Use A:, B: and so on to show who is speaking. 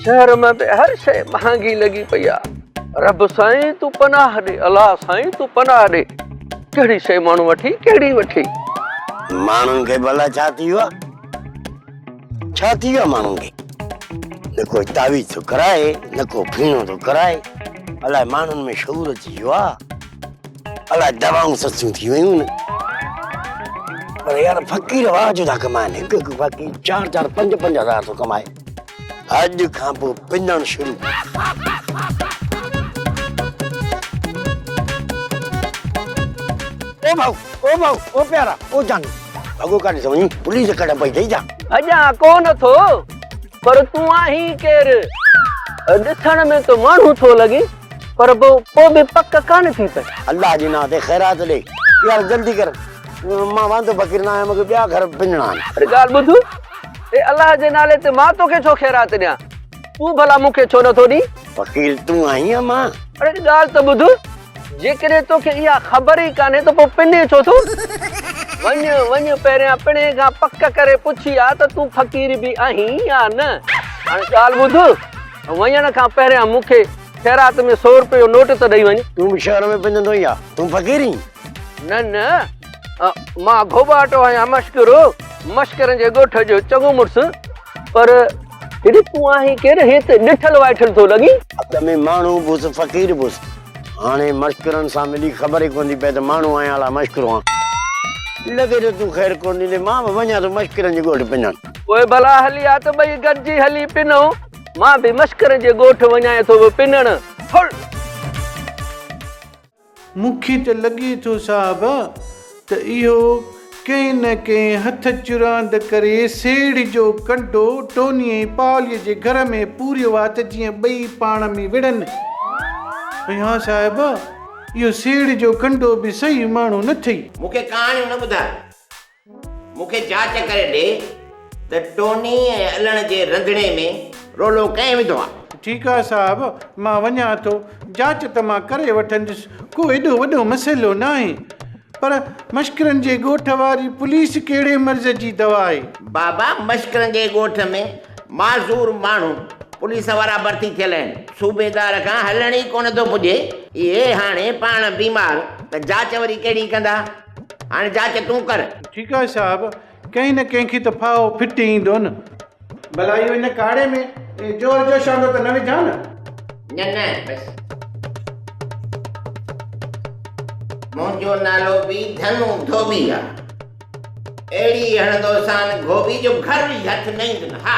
A: شهر ۾ به هر شيء مهانگي لڳي پئي آ رب سائين تون پناهه ڏي الا سائين تون پناهه ڏي ڪهڙي شيء ماڻهو وٺي ڪهڙي وٺي. ماڻهن
B: کي به الا ڇا ٿي ويو آ ڇا ٿي ويو آ ماڻهن کي نه ڪو تعويذ ٿو ڪرائي نه ڪو ڦيڻو ٿو ڪرائي الا ماڻهن ۾ شعور اچي ويو آ الا دوائون سستيون ٿي ويون پر يار فقير واهه جو ٿا ڪمائن هڪ هڪ فقير چار چار پنج پنج هزار ٿو ڪمائي. اڄ کان پوء پنڻ شروع. او ڀائو او ڀائو او پيارا او جانو ڀڳو ڪاڏي ٿو وڃين پوليس ڪهڙا پئي ٿئي جا. ڀڄان ڪونه ٿو
A: پر تون آهين ڪير؟ ڏسڻ ۾ ته ماڻهو ٿو لڳين پر پوء به پڪ ڪانه ٿي پئي. الله جي نانء تي خيرات
B: ڏي پيارا جلدي ڪر مان واندو فقير نه آهيان مون کي ٻيا گهر پنڻا آهن. ڳالهه ٻڌ.
A: اي الله جي نالي تي مان توکي ڇو خيرات ڏيان؟ تون ڀلا مون کي ڇو نٿو ڏين؟ وڪيل تون آهين
B: يا مان؟ اڙي هڪ ڳالهه ته ٻڌ،
A: جيڪڏهن توکي اها خبر ئي ڪانهي ته پوء پني ڇو ٿو؟ وڃ وڃ پهريان پڻهي کان پڪ ڪري پڇي آ ته تون فقير به آهين يا نه؟ هاڻي ڳالهه ٻڌ، وڃڻ کان پهريان مون کي خيرات ۾ سؤ روپيه جو نوٽ ته ڏئي وڃ. تون به شهر ۾ پنجندو
B: ئي آ، تون فقير هين؟ نه نه.
A: مان گهوٻاٽو آهيان مشڪرو مشڪرن جي ڳوٺ جو چڱو مڙس پر هيڏي تون آهين ڪير هيت ڏٺل وائٺل ٿو لڳين. اڳ ۾ ماڻهو
B: به هوس فقير به هوس هاڻي مشڪرن سان ملي خبر ئي ڪونه ٿي پئي ته ماڻهو آهيان الا مشڪرو آهيان. لڳي ٿو تون خير ڪونه ڏيندين مان به وڃان ٿو مشڪرن جي ڳوٺ پنهن. پوء ڀلا هلي
A: آ ته ٻئي گڏجي هلي پنهون مان به مشڪرن جي ڳوٺ وڃانء ٿو پنهڻ. ڦڙ!
C: مون کي ته لڳي ٿو صاحب ته اهو ڪنهن نه ڪنهن هٿ چراند ڪري سيڙهه جو ڪنڊو ٽوني ۽ پاليء جي گهر ۾ پوريو آ ته جيئن ٻئي پاڻ ۾ وڙهن ۽ ها صاحب اهو سيڙهه جو ڪنڊو به صحيح ماڻهو نه ٿئي. مون کي ڪهاڻيون نه ٻڌاء.
D: مون کي جاچ ڪري ڏي ته ٽوني ۽ الڻ جي رنڌڻي ۾ رولو ڪنهن وڌو آ؟ ٺيڪ آ صاحب،
C: مان وڃان ٿو. جاچ ته مان ڪري وٺندس، ڪو ايڏو وڏو مسئلو ناهي. پر مشڪرن جي ڳوٺ واري پوليس ڪهڙي مرض جي دوا آهي؟ بابا مشڪرن جي ڳوٺ ۾ معذور ماڻهو پوليس وارا ڀرتي ٿيل آهن. صوبيدار کان هلڻ ئي ڪونه ٿو پڄي. اهي هاڻي پاڻ بيمار ته جاچ وري ڪهڙي ڪندا؟ هاڻي جاچ تون ڪر. ٺيڪ آهي صاحب، ڪنهن نه ڪنهن کي ته ڦاهو ڦٽي ايندو نه. ڀلا اهو ان ڪاڙهي ۾ جوهر جو شانو ته نه وجهان نه؟ نه نه بس.
D: منهنجو نالو به ڌنو ڌوٻي آهي. اهڙي هڻندوسان گهوٻي جو گهر به هٿ نه ايندن. ها!